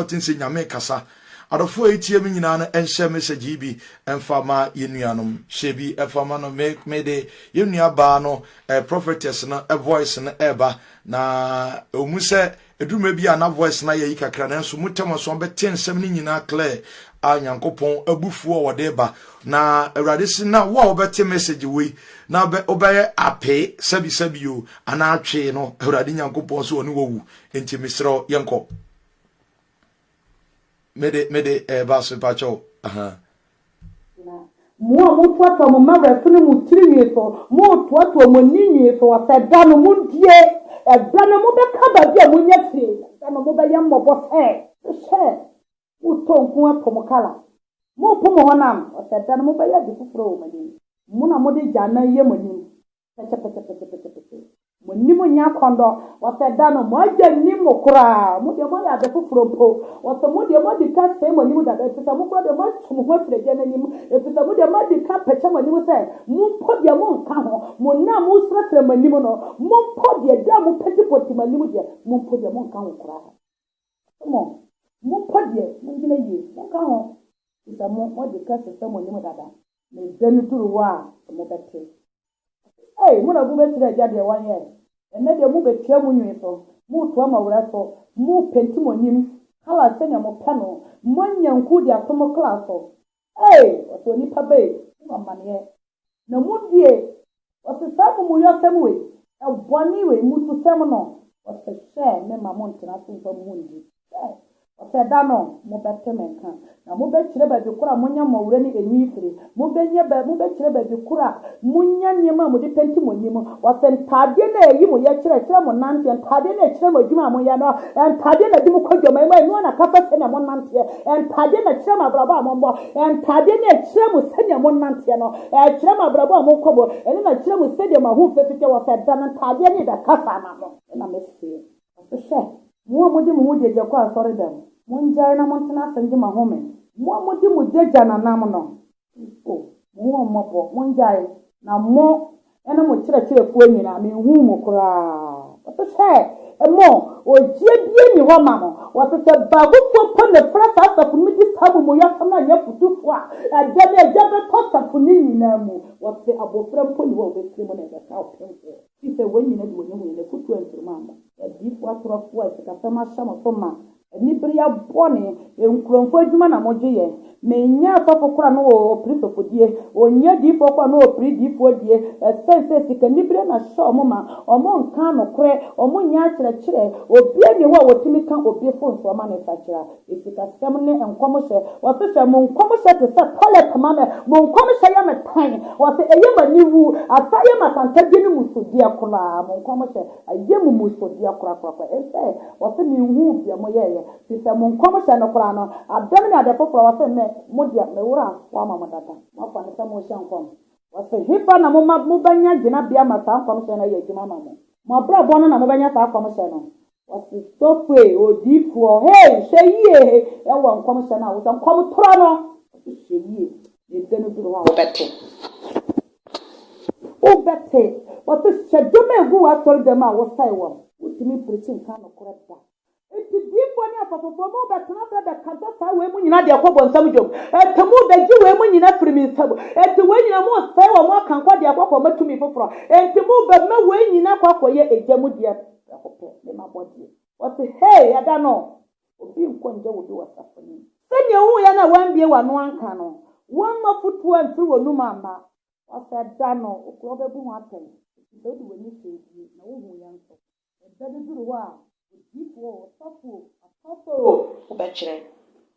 ɔte nse Nyame kasa. Adɔfoɔ a ɛretie me nyinaa no nhyɛ message yi bi mfa ma yɛn nuanom. Hyɛ bi fa ma no. Me me de yɛn nua baa no eh, prophetess no voice no ɛreba na ɛwɔ mu sɛ ɛduru mmerɛ bi a na voice no ayɛ yi kakra nanso mu tɛm nso bɛte nsɛm no nyinaa clear a Nyankopɔn abufuo a wɔde ba na Awurade si na wo a wobɛte message wei na wobɛyɛ apee sɛbi sɛbi o anaa atwee no Awurade Nyankopɔn so ɔne wawu nti mesrɛ yɛnkɔ mede mede ɛɛba eh, so mpakyɛw aha. Mo a motoatoa mo mma werɛfene mo tiri nwi so, motoatoa mo ani nwi so sɛ da no mundie, ɛda no mobɛka baabi a monya firi, ɛda no mobɛyɛ mmɔbɔ sɛ. Hwɛ, motɔ nko apo mo kala, mopo mo honam, sɛ da no mobɛyɛ ade foforɔ wɔ mo anim, mo na mode gya anan yɛ mo anim. pɛtɛpɛtɛpɛtɛpɛtɛpɛtɛ. Mo nni mo nya kɔndɔ. Wɔsɛ da no mo agya nnim mo koraa. Mo deɛ moayɛ ade foforɔ mpo. Wɔsɛ mo deɛ moadi ka sɛe mo anim dada efisɛ mo koraa deɛ moatu mo ho afiri agya no anim efisɛ mo deɛ moadi ka pɛkyɛ mo anim sɛ mo mpo deɛ mo nka ho. Mo nna a mo srɛsrɛ mo anim no mo mpo deɛ da a mo pɛtipɔti mo anim deɛ mo mpo deɛ mo nka ho koraa. Wɔsɛ mo mo mpo deɛ mo ngyina yie mo nka ho efisɛ mo moadi ka sesɛ mo anim dada. ne da no duru hɔ a, mobɛte. Ei, mo na mobɛkyerɛ Agya deɛ wayɛ. Ɛnnɛ deɛ mobɛtua mo nwene so, moretoa mo awerɛ so, morepenti mo anim, colour sɛdeɛ mopɛ no, moanya nku de ato mo kra so. Ei, ɔsɛ onipa bɛi, mo amaneɛ, na modie. Wɔse saa amumuyɔsɛm wei, bɔne wei, mmususɛm no, wɔse hwɛ memma monntena ase mfa mo ho nndi. Hwɛ! Wɔse da no mobɛte me nka, na mobɛkyerɛ baabi koro a monya mmɔwerɛ ne enyi firi, mobɛnya baabi, mobɛkyerɛ baabi koro a monya nneɛma a mode penti mo anim, wɔse ntaadeɛ no a ɛyi mo yɛ kyerɛ, ɛkyerɛ mo nanteɛ, ntaadeɛ no a ɛkyerɛ mo adwuma a moyɛ no, ntaadeɛ no a ɛde mo kɔ dwaman mu, ɛno ara na ɛkasa sɛnea monnanteɛ, ntaadeɛ no a ɛkyerɛ mo abrabɔ a mommɔ, ntaadeɛ no a ɛkyerɛ mo sɛnea monnanteɛ no. Ɛkyerɛ mo abrabɔ a mokɔ mu, ɛno na ɛkyerɛ mo sɛdeɛ mo ahofie teteɛ wɔ sɛ ɛda no ntaadeɛ ne ɛbɛkasa ama mo. Ɛna meseɛ. Ɔse, Hwɛ, mo a mode mo ho gyagya kɔ asɔredam, mongyae na montena ase ngye mo ahome, mo a mode mo gyagya nanam no, Kristo, mo ho mmɔbɔ, mongyae, na mo ne mo kyerɛkyerɛfoɔ nyinaa, menhuu mo koraa. Wɔse sɛ, Mo, ogyeɛ biara nni hɔ ma mo. Wɔse sɛ baabufoɔ mpo na ɛfra saa asafo no mu di saa amumuyɔsɛm no a, nyɛ afotufoɔ a, ɛda no agya bɛtɔ asafo no nyinaa mu. Wɔse abɔfra mpo nni hɔ a ɔbɛfiri mu na ɛbɛka ɔpemfoɔ. Efisɛ wɔn nyinaa de wɔn ahu, na n'afotuo ankyiri mu amma. Adiyifoɔ atorofoɔ a sikasɛm ahyɛ mo so ma, Anibereɛ bɔne, nkurɔfoɔ adwuma na mogye yɛ. Menyɛ asɔfo koraa na wɔpere sɔfo die, wɔnyɛ diifoɔ koraa na wɔpere diifoɔ die, ɛsiane sɛ sikanibereɛ na ɛhyɛ wɔn ma, wɔnkaa nokorɛ, wɔnyɛ akyerɛkyerɛ, obiara nni hɔ a wɔtumi ka obi fo nso ma no sakyera. Sikasɛm ne nkɔmhyɛ, wɔse hwɛ, mo nkɔmhyɛ te sɛ tɔlɛt ma me, mo nkɔmhyɛ yɛ me tan, wɔse ɛyɛ m'aniwu, asan yɛ m'atantadeɛ ne musudeɛ koraa, mo nkɔmhyɛ. Ɛyɛ mmusudeɛ korakorakora. Ese wɔse menhuu deɛ moyɛeɛ, firi sɛ mo nkɔmhyɛ no koraa no, adɛm ne ade foforɔ, wɔse me, mo deɛ meworɔ afoɔ ama mo dada. Moafa no sɛ morehyɛ nkɔm. Wɔse hefa na moma mobɛnya gyinabea ma saa nkɔmhyɛ no ayɛ adwuma ama mo? Mo abrabɔ no na mobɛnya saa nkɔmhyɛ no. Wɔse sɔfoe, odiyifoɔ, hei, hwɛ yie, hei, ɛwɔ nkɔmhyɛ no a wosɛ nkɔmtorɔ no, wɔse hwɛ yie. Yɛn da no duru hɔ a, wobɛte. Wobɛte. Wɔte hyɛ dwom a egu w'asɔredɛm a wosɛe wɔn. Wontumi mprikyi nka nokorɛ da. Enti diyifoɔ ne asɔfofoɔ, morebɛtena ase abɛkasa saa wei mu nyinaa de akɔ bonsam dwom. Enti morebɛgye wei mu nyinaa afiri me nsam. Enti wei nyinaa moresɛe wɔn aka nkwa de akɔ akɔma tumi foforɔ. Enti morebɛma wei nyinaa akɔ akɔyɛ egya mu deɛ. Prɛko pɛ, mema bɔdeɛ. Wɔte, Hei, ɛda no! Obi nkɔ nngya wo bi wɔ asafo no mu. Sɛdeɛ woyɛ no a woambue w'ano anka no, woamma afotuo amfiri w'anom amma. Ɔsɛ da no wo korɔ bɛbu ho atɛn, ɛfiri sɛ wode w'ani hwɛɛ die, na wohuiɛ nso. Ɛda bi duru hɔ a, odiyifoɔ o, ɔsɔfo o, apaafoɔ o, wobɛkyerɛ.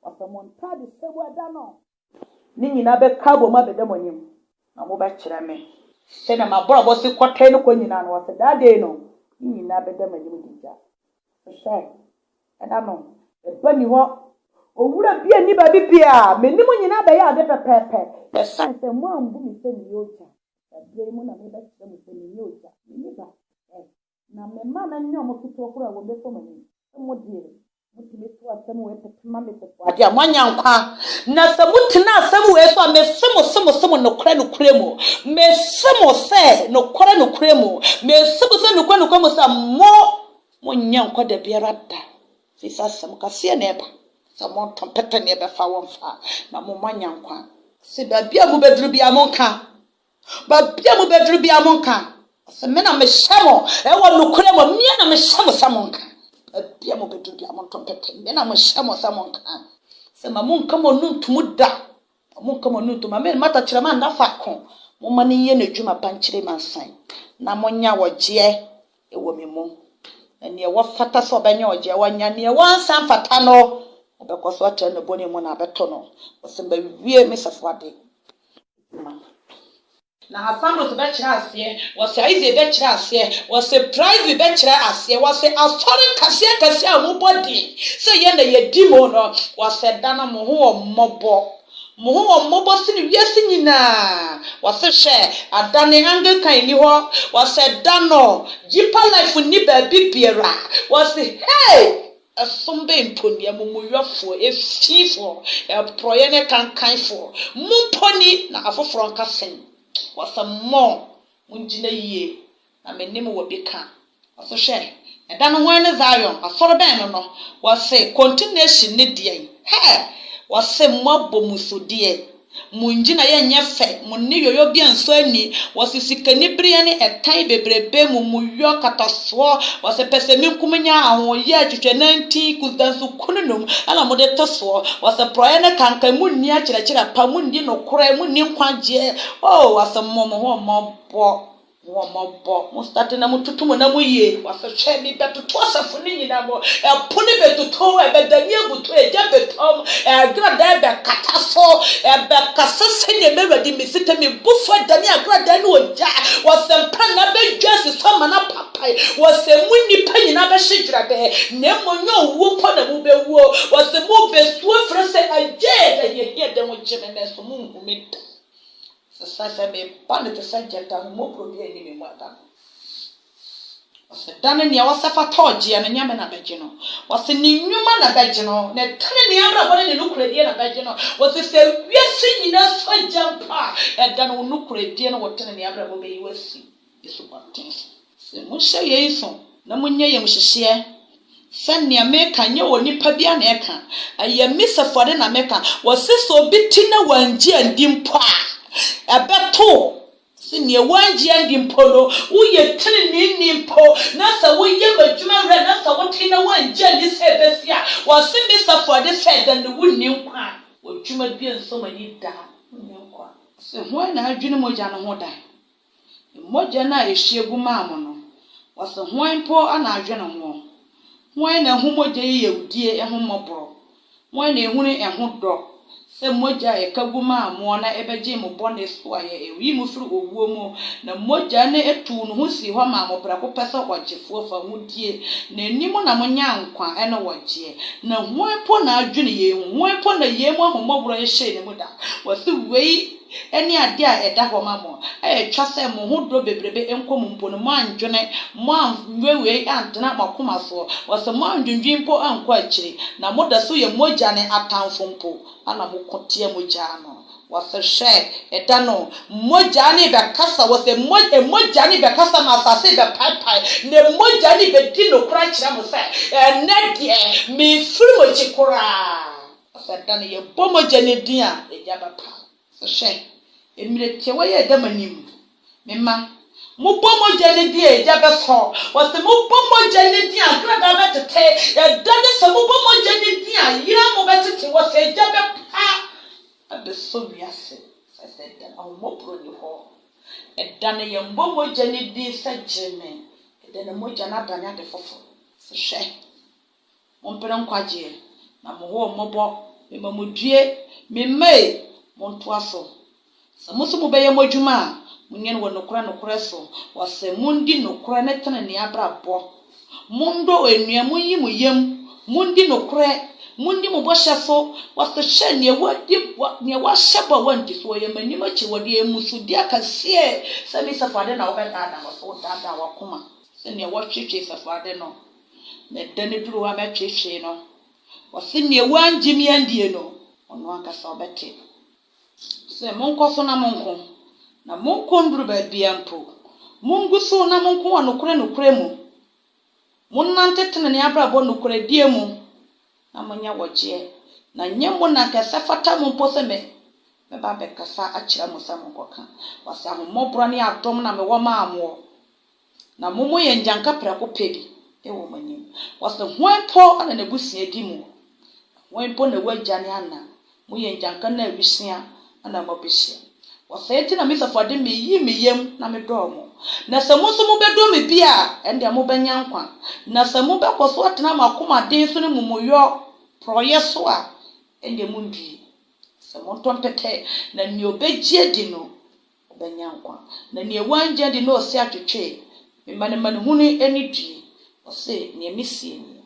Ɔsɛ mo ntaade hyɛ mu ɛda no. ne nyina bɛka abɔ mu abɛda mo enyim, na mobɛkyerɛ me sɛdeɛ m'abrabɔ si kɔ tee no kɔ nyina, na ɔse, Daa dei no, ne nyina bɛda m'enyim gyigya. Hwɛ, nna no, ba nni hɔ, owura bia nni baabi bia, m'enyim nyina bɛyɛ ade pɛpɛɛpɛ, osian sɛ moammbu me sɛ meyɛ ogya, na berɛ yi mu na mebɛkyerɛ mo sɛ mennyɛ ogya, menye ba. Hwɛ, na me mma no nyɛ wɔn ketewa koraa a wɔbɛfa mo ani. Mo deɛ, motumi to asɛm wei pete ma me sɛ, Adeɛ a moanya nkwa. Na sɛ motena asɛm wei so a, mese mo, se mo, se mo, nokorɛ, nokorɛ mu, mese mo sɛ, nokorɛ, nokorɛ mu, mese mo sɛ, nokorɛ, nokorɛ mu sɛ, mo, monnya nkwa da biara da, ɛfiri sɛ asɛm kaseɛ na ɛba sɛ monto mpete ne ɛbɛfa wɔmfa, na mo, moanya nkwa. Se baabi a mobɛduru biara, monka. Baabi a mobɛduru biara monka sɛ me na mehyɛ mo ɛwɔ nokorɛ mu mmea na mehyɛ mo sɛ monka baabi a mobɛduru biara monto mpɛpɛ me na mehyɛ mo sɛ monka sɛ ma monka mo nu ntomu da ma monka mo nu ntomu ame mata kyerɛ ma nna faako momma no nyɛ n'adwuma pa nkyerɛ ma nsan na monya wɔgyeɛ ɛwɔ me mu na neɛ wɔfata sɛ ɔbɛnya ɔgyeɛ wɔnya neɛ wɔnsa mfata no ɔbɛkɔ so atra ne bɔne mu na abɛtɔ no wɔsɛm bɛwie me sɛfo ade ma no bi. Na Apollos bɛkyerɛ aseɛ, wɔse Isaac bɛkyerɛ aseɛ, wɔse Privy bɛkyerɛ aseɛ, wɔse asɔre kɛseɛ kɛseɛ a wɔn bɔ din sɛ yɛn na yɛdi mu no, wɔse da no mo ho wɔ mmɔbɔ, mo ho wɔ mmɔbɔ sene wiase nyinaa, wɔse hwɛ, adane Anglican nni hɔ, wɔse da no Deeper Life nni baabi biara, wɔse hey! Ɛsom bɛn mpo ni, amumuyɔfoɔ, efifoɔ, ɛporɔeɛ ne ɛkankanfoɔ, mo mpo ni, na afoforɔ nka sɛn? Wɔse mo, mongyina yie, na mene mo wɔ bi ka. Wɔse hwɛ, ɛda no hwan ne Zion, asɔre bɛn no no? Wɔse, Kɔntinɛsyin ne deɛn? Hɛ! Wɔse moabɔ musudeɛ. Mo ngyinaeɛ nyɛ fɛ, mo ne yoyo bia nsɔ ani, wɔse sikani bereɛ ne ɛtan bebrebe mu mo yɔ katasoɔ, wɔse pɛsɛmenkum nyɛ ahoyɛ atwitwɛ nantin kusda nso kunu nom na mo de to soɔ, wɔse porɔeɛ ne kankan mo nni akyerɛkyerɛ pa, mo nni nokorɛ, mo nni nkwagyeɛ, oh wɔse mmɔ mo ho mmɔbɔ. Wɔ mo bɔ mo state na mo toto mo nam yie wafɛ hwɛ bi bɛ toto asafo no nyina mo ɛpo no bɛ toto ɛbɛ dani abuto ɛgya bɛ tɔm ɛgrada ɛbɛ kata so ɛbɛ kasa sɛ nea mɛ wɛdi me sita me bu fo ɛdani agrada no ɔgya wɔ sɛ mpa na bɛ dwa si so ama na papae wɔ sɛ mo nipa nyina bɛ hye gyira bɛ na mo nyɛ owuo pɔ na mo bɛ wuo wɔ sɛ mo bɛ suo frɛ sɛ ɛgya ɛdɛ yɛ hi ɛdɛ ho gye me mɛ so mo nhu me da Sesɛɛ sɛ meba no te sɛ gyata, ahummɔborɔ biara nni me mu ɛda no. Wɔse da no nea ɔsɛ fata ɔgyeɛ no, Nyame na bɛgye no. Wɔse ne nnwuma na bɛgye no, ne tenenee abrabɔ ne ne nokorɛdie na bɛgye no. Wɔse sɛ wiase nyinaa sɔ gya mpo a, ɛda no wo nokorɛdie ne wo tenenee abrabɔ bɛyi wo asi. esubɔnten so. Sɛ mohyɛ yei nso na monyɛ yamuhyehyeɛ sɛ nea meka nyɛ onipa biara na ɛka, ɛyɛ me Safori na meka, wɔse sɛ obi te na wangye andi mpo a, ɛbɛto wo sɛ nea wangye andi mpo no, woyɛ teneneeni mpo na sɛ woyɛ m'adwuma werɛ na sɛ wote na wangye andi sɛ ɛbɛsi a, wɔse me Safori sɛ ɛda no wonni nkwa, wɔ dwuma biara nso m'ani da, wonni nkwa. Sɛ hwan na adwene mogya no ho da Mbɔgya no a yehyia gu maa mo no, wɔse hwan mpo na adwene hoɔ? Hwan na ahu mogya yi yawdie ho mmɔborɔ? Hwan na ahunu ɛho dɔ sɛ mogya a yɛka gu maa moɔ na ɛbɛgyee mo bɔne so a yɛyii mo firi owuo mu, na mogya no tuu ne ho sii hɔ maa mo prɛko pɛ sɛ ɔgyefoɔ fa modie n'anim na monyaa nkwa ne wɔgyeɛ? Na hwan mpo na adwene yei ho? Hwan mpo na yei mu ahommɔborɔ hyɛɛ ne mu da? Wɔse wei. ne ade a ɛda hɔ ma mo a ɛtwa sɛ mo ho dɔ bebrebe nkɔ mu mpo no, moannwene, moanwewee antena mo akoma so, wɔse moannwendwen mpo ankɔ akyiri, na moda so yɛ mogya ne atamfo mpo, ɛna moko tia mogya no. Wɔse, Hwɛ, ɛda no, mogya no rebɛkasa, wɔse, mo, mogya no rebɛkasa na asase rebɛpaepae, na mogya no rebɛdi nokorɛ akyerɛ mo sɛ, Ɛnnɛ deɛ, mefiri mo akyi koraa. Ɔsɛ da no yɛbɔ mogya no din a yɛde aba pa. Sɛ hwɛ, mmerɛ tiawa yi a ɛda mo anim, me mma, mobɔ mogya no din a egya bɛsɔ, wɔsɛ mobɔ mogya no din a kradaa bɛtete, ɛda no sɛ mobɔ mogya no din a yera mo bɛtete, wɔsɛ egya bɛpa abɛsɔ wiase, sɛ sɛ ɛda no ahummɔborɔ ni hɔ. Ɛda no yɛmmɔ mogya no din sɛ gyeme, ɛda no mogya no adane ade foforɔ. Sɛ hwɛ. Mompere nkwagyeɛ, na mohoo mmɔbɔ, mema modue, memmai, montoa so. Sɛ mo nso mobɛyɛ mo adwuma a, monyɛ no wɔ nokorɛ nokorɛ so, wɔ sɛ mondi nokorɛ ne tenenee abrabɔ. Mondɔ onua, monyi mo yam, mondi nokorɛ, monni mo bɔhyɛ so, wɔ sɛ hwɛ, neɛ wadi, wa, neɛ wahyɛ bɔ a wanti so, ɔyɛ m'anim akyiwadeɛ, ɛyɛ mmusudeɛ kɛseɛ, sɛ me sɛfo ade na wobɛdaadaa wɔ sɛ wodaadaa w'akoma sɛ neɛ wɔtwetwe sɛfo ade no. Me da no duru a mɛtwetwe no. Ɔse neɛ wangye me andie no ɔno ankasa ɔbɛte. Ɔse monkɔ so na monko na monko nduru baabia mpo. Mongu so na monko wɔ nokorɛ nokorɛ mu. Monante tenenee abrabɔ nokorɛdie mu na monyɛ wɔgyeɛ na nyɛ mo na nka sɛ fata mo mpo sɛ me mɛba abɛkasa akyerɛ mo sɛ monkɔka. Ɔse ahommɔborɔ ne adom na mewɔ maa moɔ. na mommɔ yɛn nnyanka prɛko pɛ bi wɔ mo anim. Wɔse, Hwan mpo na n'abusua di mu? Na hwan mpo na w'agya ne ana? Moyɛ nnyanka no a wisea na moabesua. Wɔse, Enti na Misa fo ade meyi me yam na medɔɔ mo. Na sɛ mo nso mobɛdɔ me bio a, ɛnneɛ mobɛnya nkwa. Na sɛ mobɛkɔ so atena mo akomaden so ne momuyɔ, porɔeɛ, so a, ɛnneɛ monndue. Sɛ montɔ mpɛtɛ, na nea ɔbɛgye adi no Ɔbɛnya nkwa. Na nea wannya di no ɔse atwetwe me ma ne manehunu ani due, ɔse nea mesie nie.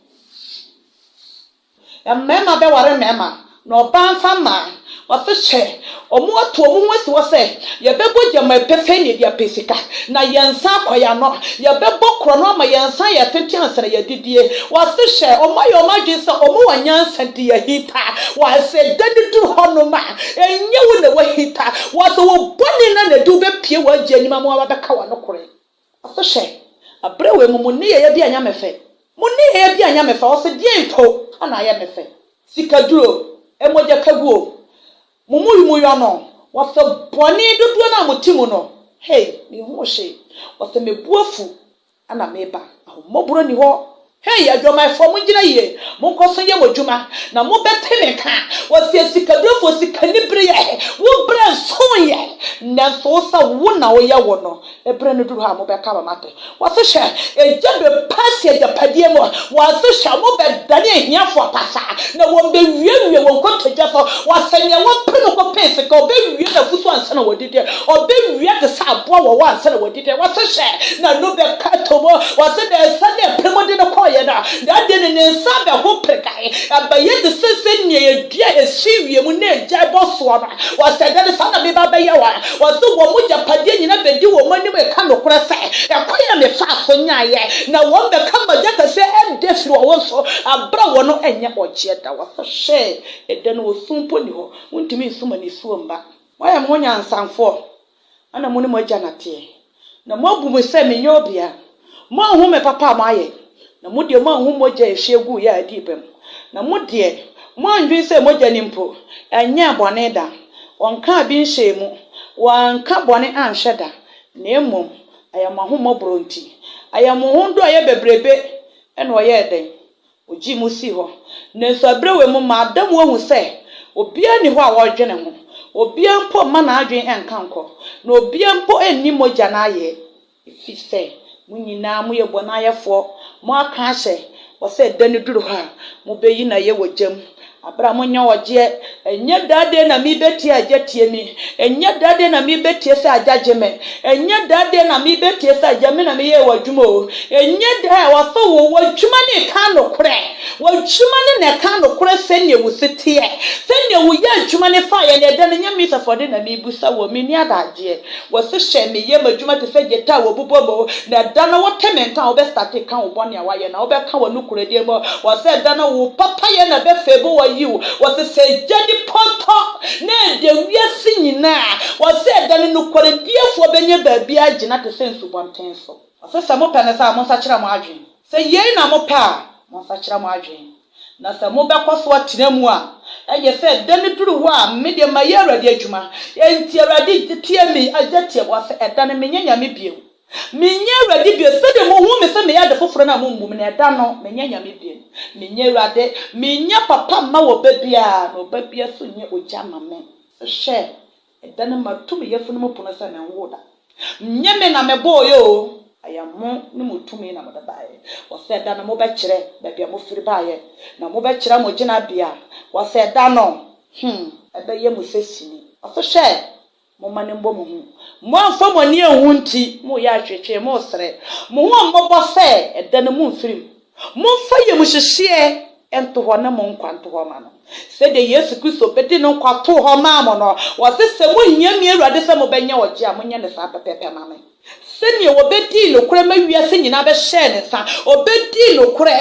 Na mmarima bɛware mmarima, na ɔbaa mfa mmaa, ɔse hwɛ, wɔato wɔn ho asi hɔ sɛ, yɛbɛbɔ gyama pefee na yɛde apɛ sika, na yɛn nsa akɔ yɛn ano, yɛbɛbɔ korɔno ama yɛn nsa ayɛ tenten ansa na yɛadidie, ɔse hwɛ, wɔayɛ wɔn adwene sɛ wɔwɔ nyansa nti yɛahinta, ɔse da no duru hɔnom a, ɛnyɛ wo na woahinta, Wɔdze wo bɔne na anadwe wobepue w'Agya enyim ama ɔabɛka wo anokorɛ. Afei hwɛ, aber wei mu mo nneyɛeɛ bi annyɛ me fɛ. Mo nneyɛeɛ bi annyɛ me fɛ, ɔse deɛn mpo na ayɛ me fɛ? Sikaduro o, mogyakaguo o, mo muyumuyɔ no, wɔse bɔne dodoɔ no a mote mu no, hei, menhunu hwee. Wɔse me bo afu. na mereba. Ahummɔborɔ nni hɔ. Hei adwamanfoɔ, mongyina yie, monkɔ so nyɛ mo adwuma, na mobɛte me nka. Wɔseɛ sikaberefoɔ sika ni bereɛ, wo berɛ nsoeɛ, nanso wo sɛ wo na woyɛ wo no, berɛ no duru hɔ a, mobɛka ma mate. Wɔse hwɛ, egya bɛpue asi agyapadeɛ mu, wɔse hwɛ, wɔbɛdane ahiafoɔ pasaa, na wɔbɛwiawie wɔ nkotodwe so. Wɔse nea wapere no kɔpɛɛ sika, ɔbɛwie n'afutuo ansa na wadi. adi dɛ ɔbɛwia te sɛ aboa wɔwɔ ansa na wadi dɛ. Wɔse hyɛ na no bɛka to mu. Wɔse dɛ nsa na ɛpere mu de no kɔeɛ no na adɛn no ne nsa abɛ ho peregae. Ɛbɛyɛ te sɛ sɛnea ɛdua a ɛsi wiem na ɛgyae bɔ soɔ no. Wɔse dɛ no saa na meba bɛyɛ wɔn. Wɔse wɔn agyapadeɛ nyinaa bɛdi wɔn anim reka nokorɛ sɛ ɛkwan a mefaa so nyaeɛ na wɔn bɛka magya kɛseɛ ɛdɛ firi wɔn ho so aberɛ a wɔn ɛnyɛ ɔgyeɛ da. Wɔse hyɛ ɛdɛ no osu mpo nni hɔ. Wontumi nso ma nisuo mma. Moayɛ mo ho nyansafoɔ, ɛna mo ne mo agya na teɛ, na moabu me sɛ menyɛ obia. Moanhu me papa a moayɛ, na mo deɛ moanhu mogya a ɛhwie guiɛ a ɛdii bem, na mo deɛ, moandwene sɛ mogya no mpo nyɛɛ bɔne da, wɔnkaa bi nhyɛɛ mu, wɔanka bɔne anhwɛ da, na mmom ɛyɛ mo ahommɔborɔ nti, ɛyɛ mo ho dɔ a ɛyɛ bebrebe na ɔyɛɛ dɛn, Ogyee mu sii hɔ. Nanso bere wei mu mada mu ahu sɛ obiara nni hɔ a ɔredwene ho, obiara mpo mma n'adwene nka nkɔ, na obiara mpo nni mogya no ayɛ, efisɛ mo nyinaa moyɛ bɔneayɛfoɔ, moaka ahyɛ bɔ sɛ da no duru hɔ a, mobeyi no ayɛ wɔ gya mu. Abram nyɛ ɔgyeɛ, ɛnyɛ daa deɛ na me bɛtie a agya tie me, ɛnyɛ daa deɛ na me bɛtie sɛ agya gye me, ɛnyɛ daa deɛ na me bɛtie sɛ agya me na me yɛɛ w'adwuma o, ɛnyɛ daa a, ɔsɛ wo, w'adwuma ne ɛka nokorɛ, w'adwuma ne na ɛka nokorɛ sɛdeɛ wo se teɛ, sɛdeɛ wo yɛ adwuma ne faeɛ na ɛda no, nyɛ me sɛ fɔde na me bisa wo, me nni adagyeɛ. Wɔse hyɛ me yam adwuma te sɛ gyata a wɔbobɔ mu, na ɛda no wote me nka a wobɛstate ka wo bɔne a woayɛ na wobɛka wɔ nokorɛdie mu. Wɔse ɛda no wo papayɛ na ɛbɛfeebo wɔ yiw. Wɔse sɛ gya di pɔtɔ na ɛdɛ wiase nyina a, wɔse ɛda no nokwarediɛfoɔ bɛnya baabi agyina te sɛ nsubɔnten so. Wɔse sɛ mopɛ no saa a monsakyera mo adwen, sɛ yei na mopɛ a monsakyera mo adwen. Na sɛ mobɛkɔ so atena mu a, ɛyɛ sɛ da no duru hɔ a me deɛ mayɛ Awurade adwuma, enti Awurade teɛ me agya tiawa sɛ ɛda no menyɛ nyame bio, menyɛ Awurade bio, sɛdeɛ mohu me sɛ meyɛ ade foforɔ no a mommu me, na ɛda no menyɛ nyame bio, menyɛ Awurade, menyɛ papa mma ɔba biara, na ɔba biara nso nyɛ ogya mma me. Hwɛ! Ɛda no matu me yafunu mu pono sɛ menwoo da. Nyɛ me na mebɔeɛ oo, ɛyɛ mo ne mo tumi na mode baeɛ. Wɔsɛ da no mobɛkyerɛ baabi a mofiri baeɛ, na mobɛkyerɛ mo gyinabea. Wɔsɛ da no, hmm, ɛbɛyɛ mo sɛ sini. Wɔse hwɛ, momma no mmɔ mo hu. Moamfa mo ani anhu nti, moreyɛ atweetwee, moresrɛ mo ho mmɔbɔ sɛ ɛda no momfirim. Momfa yamuhyehyeɛ nto hɔ na mo nkwa nto hɔ mma no. Sɛdeɛ Yesu Kristo bɛde ne nkwa too hɔ maa mo no, ɔse, Sɛ mohia me Awurade sɛ mobɛnya ɔgyeɛ a, monyɛ no saa pɛpɛɛpɛ mma me. Sɛdeɛ wɔbɛdii nokorɛ ma wiase nyinaa bɛhyɛɛ ne nsa, ɔbɛdii nokorɛ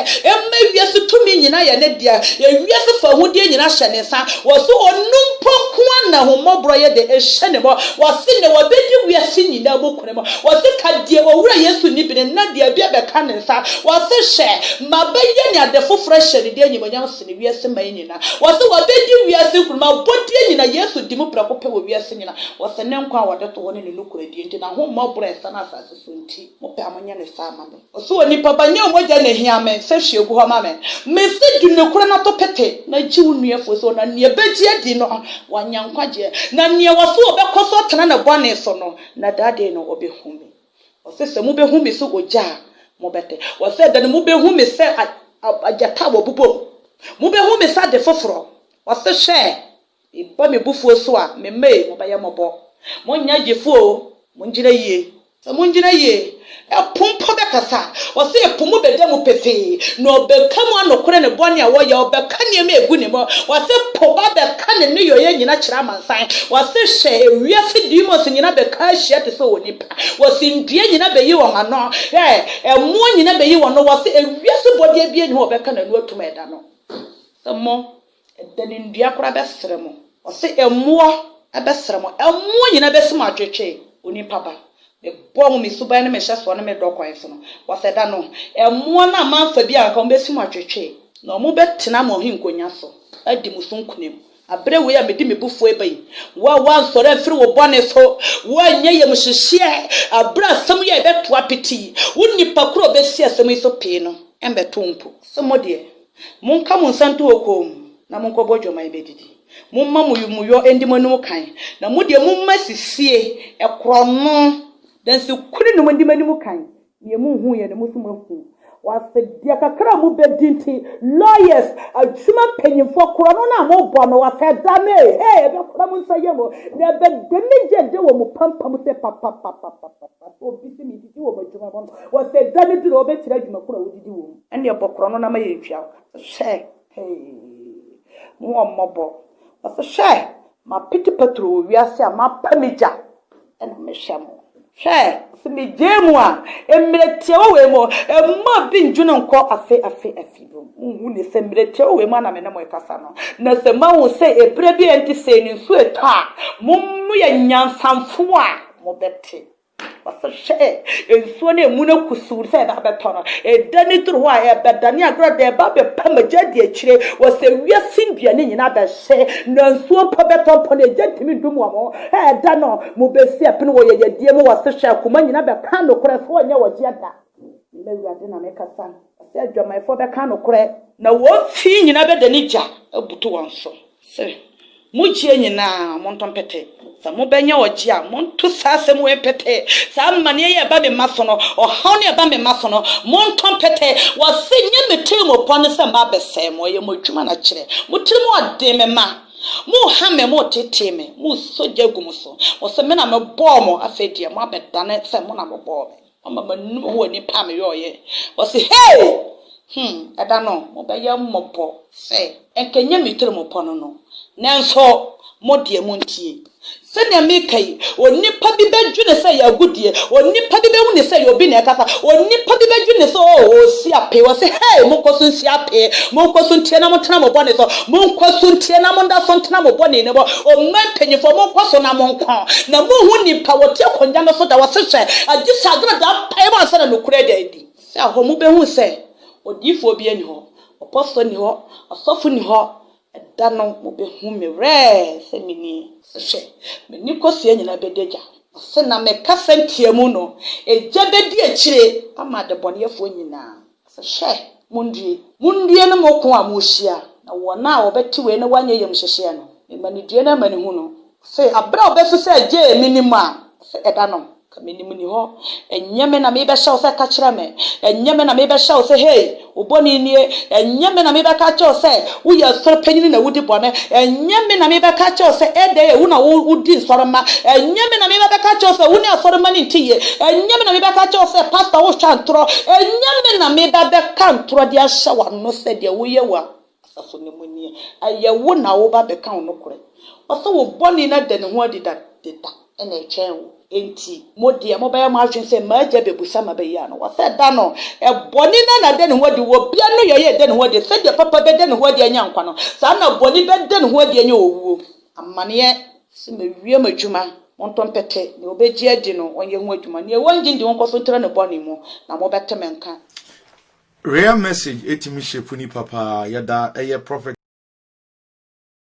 ma wiase tumi nyinaa yɛ ne dea, yɛ wiase fahudeɛ nyinaa hyɛ ne nsa. Ɔse, Ɔno mpo nkoa na ahummɔborɔ yɛ dɛ hyɛ ne mɔ. Ɔse, Na wɔbɛdi wiase nyinaa mu kunini. mu. Wɔse, Ka deɛ w'Owura Yesu nni bene na deɛ bi abɛka ne nsa. Wɔse, Hwɛ! Mabɛyɛ ne ade foforɔ ahyɛ ne din animuonyam sene wiase man nyina. Wɔse, Wɔbɛdi wiase nkunim abɔdeɛ nyina. Yesu di mu prɛko pɛ wɔ wiase nyina. Wɔse, Ne nkwa a wɔde to hɔ ne ne nokorɛdie nti, n'ahommɔborɔ a ɛsane asase so nti, mopɛ a monyɛ no saa ma me. Ɔse onipa ba nyɛ wo mogya na ɛhia me sɛ hwie gu hɔ ma me. Mese di nokorɛ na to pete na gye wo nua firi so na neɛ bɛgye adi no wanya nkwagyeɛ na neɛ ɔse ɔbɛkɔ so atena ne bɔne so no na da dee no ɔbɛhu me. Ɔse sɛ mobɛhu me sɛ ogya a mobɛte. Ɔse ɛda no mobɛhu me sɛ agyata a wɔbobɔ mu. Mobɛhu me sɛ ade foforɔ. Ɔse hwɛ Meba me bufuo so a, me mma ei, mobɛyɛ mmɔbɔ. Monnyɛ gyefo oo, mongyina yie. Sɛ mongyina yie, ɛpo mpo bɛkasa. Ɔse ɛpo mu bɛda mu pefee, na ɔbɛka mu anokore ne bɔne a wɔyɛ, ɔbɛka nneɛma a ɛgu ne mu. Ɔse po ba bɛka ne nneyɔeɛ nyina kyerɛ amansan. Ɔse hwɛ, ewiase demons nyina bɛka ahyia te sɛ onipa. Ɔse ndua nyina bɛyi wɔn ano, hwɛ, ɛmoɔ nyina bɛyi wɔn ano. Ɔse ewiase bɔdeɛ biara nni hɔ a ɔbɛka n'ano atum ɛda no. Sɛ mo. Ɛdɛ ne nnua koraa bɛsrɛ mo. Ɔse mmoa bɛsrɛ mo. Mmoa nyinaa bɛsi mo atwetwe, onipa ba. Mebɔɔ mo me suban ne me hyɛsoɔ ne me dɔ kwan so no. Ɔse ɛda no, mmoa no a moamfa biara anka, wɔbɛsi mo atwetwe. Na wɔbɛtena mo ahenkonnwa so adi mo so nkonim. Aberɛ wei a mede me bufuo reba yi, wo a woansɔre amfiri wo bɔne so, wo a nyɛ yamuhyehyeɛ aberɛ a asɛm yi a ɛbɛto apete yi, wo nnipa korɔ a wɔbɛsi asɛm yi so pee no mmɛto wo mpo. Ɔse mo deɛ, Monka mo nsa nto mo kɔn mu, na monkɔbɔ dwaman mmɛdidi. Momma mo yomuyɔ ndi mo anim kan, na mo deɛ, momma sisie, korɔno, dansikuni nom ndi mo anim kan. Deɛ monhuuiɛ no, mo so moahu. Wɔ ase deɛ kakra a mobɛdi nti, lawyers, adwuma mpanyimfoɔ, korɔno no a mobɔ no, wɔ ase da no ei, hee, ɛbɛkora mo nsa yam o, na ɛbɛda anigyeɛ de wɔ mo pampam sɛ papapapapapapa, obi se medidi wɔ m'adwuma mu, wɔ ase da no duru a, wobɛkyerɛ adwumakuo a wodidi wɔ mu. Ɛnneɛ bɔ korɔ no na ma yɛntua wo ka. Hwɛ! Hee! Hu wɔn mmɔbɔ. Ɔse, Hwɛ! Mapete paturo wɔ wiase a mapa me gya na mehwɛ mo. Hwɛ! Ɔse, Megyae mu a, mmerɛ tiawa wei mu, mma obi ndwene nkɔ afe afe afe bio. Wonhu ne sɛ mmerɛ tiawa wei mu a na me ne mo rekasa no. Na sɛ mahu sɛ ɛberɛ bi a ɛnte sei no nsuo retɔ a, mo moyɛ nyansamfoɔ a, mobɛte. Wɔhwehwɛɛ nsuo no a emu no kusuu no sɛ ɛbɛ abɛtɔ no. Ɛdane duru hɔ a, ɛbɛdane agorɔ de ɛbɛ abɛpa mu. Egya di akyire. Wɔsɛ wiase nnuane nyinaa bɛhye, na nsuo mpo bɛtɔ mpo no, egya ntumi ndum wɔn. Ɛda no, mobɛsi apini wɔ yɛyɛdeɛ mu, wɔse hwɛ akoma nyinaa bɛka nokorɛ sɛ wɔnyɛ wɔgyeɛ da. Me Awurade na mekasa, wɔse adwamanfoɔ bɛka nokorɛ. Na wɔn fie nyinaa bɛdane gya abutu wɔn so. Sɛ, Mo gyeɛ nyina ara, monto mpɛtɛɛ. Sɛ mobɛnya ɔgyeɛ a, monto saa asɛm wei mpɛtɛɛ, Saa amaneɛ yi a ɛba me mma so no, ɔhaw no a ɛba me mma so no, monto mpɛtɛɛ. Wɔse, Nyɛ me tirimupɔ ne sɛ mabɛsɛe mo, ɛyɛ mo adwuma na kyerɛ. Mo tiri mu ɔden, me mma. Moha me, motetee me, moresɔ gya gu mo so. Mose, Me na mebɔɔ mo, afei deɛ moabɛdane sɛ mo na mobɔɔ me. Ɔma m'anom hu onipa a meyɔeɛ. Wɔse, Hei! Hum! Ɛda no, mobɛyɛ mmɔbɔ sɛ. Anka ɛnyɛ me tirim pɔ no no. Nanso mo deɛ, montie. Sɛdeɛ meka yi, onipa bi bɛdwene sɛ ɛyɛ agodie, onipa bi bɛhunu sɛ ɛyɛ obi na ɛkasa, onipa bi bɛdwene sɛ, Oh, ɔresi apee. Wɔse, Hei! Monkɔ so nsi apee, monkɔ so ntie na montena mo bɔne so, Monkɔ so nteɛ na monda so ntena mo bɔne no mu. Ɔman mpanyimfoɔ, monkɔ so na monko. Na monhu nnipa a wɔte akonnwa no so da wɔse sɛ agye sɛ adwene da mpaeɛ mu ansa na nokorɛ ada adi. Sɛ ahɔ mobɛhu sɛ odiyifoɔ biara nni hɔ, ɔpɔfoɔ nni hɔ, ɔsɔfo nni hɔ, ɛda no mobɛhu me werɛ sɛ menie. Sɛ hwɛ, me ne kosua nyinaa bɛdi agya. Na sɛ na mekasa ntiamu no, egya bɛdi akyire ama adebɔneyɛfoɔ nyinaa. Ɔse, Hwɛ, mundue, mundue no mo ko a morehyia, na wɔn a wɔbɛte wei na wɔanyɛ yam hyehyeɛ no, mema no due no amanehunu. Ɔse, Aberɛ a ɔbɛso sɛ agyee me nim a, ɔse, Ɛda no, ka menim nni hɔ, ɛnyɛ me na merebɛhyɛ wo sɛ ka kyerɛ me, ɛnyɛ me na merebɛhyɛ wo sɛ hei, wo bɔne nie, ɛnyɛ me na merebɛka akyerɛ wo sɛ Woyɛ asɔre panyin na wudi bɔne. Ɛnyɛ me na merebɛka akyerɛ wo sɛ ɛda yɛ, wo na wodi nsɔremma. Ɛnyɛ me na merebɛka akyerɛ wo sɛ wo ne asɔremma no nte yie. Ɛnyɛ me na merebɛka akyerɛ wo sɛ pasta wohwɛ ntorɔ. Ɛnyɛ me na mereba abɛka ntorɔ de ahyɛ w'ano sɛ deɛ woyɛ wɔ asafo no mu nie. Ɛyɛ wo na woreba abɛka wo nokorɛ. Ɔse wo bɔne no ada ne ho adi dada. na ɛtwɛn wo. Enti mo deɛ, mobɛyɛ mo adwene sɛ, 'M'agya bɛbusa ma bɛyi ano. Wɔsɛ da no, bɔne na na ɛda ne ho adi wɔ obiara no yɛyɛ a ɛda ne ho adi. Sɛdeɛ papa bɛda ne ho adi anya nkwa no, saa ara na bɔne bɛda ne ho adi anya owuo. Amaneɛ, sɛ mawie m'adwuma, montɔ mpɛtɛ, deɛ ɔbɛgye adi no, ɔnyɛ ho adwuma, deɛ wɔnnye nni, wɔnkɔ so ntra ne bɔne mu, na mobɛte me nka. Rare message ɛtumi shape nipa paa yɛda ɛyɛ prophet.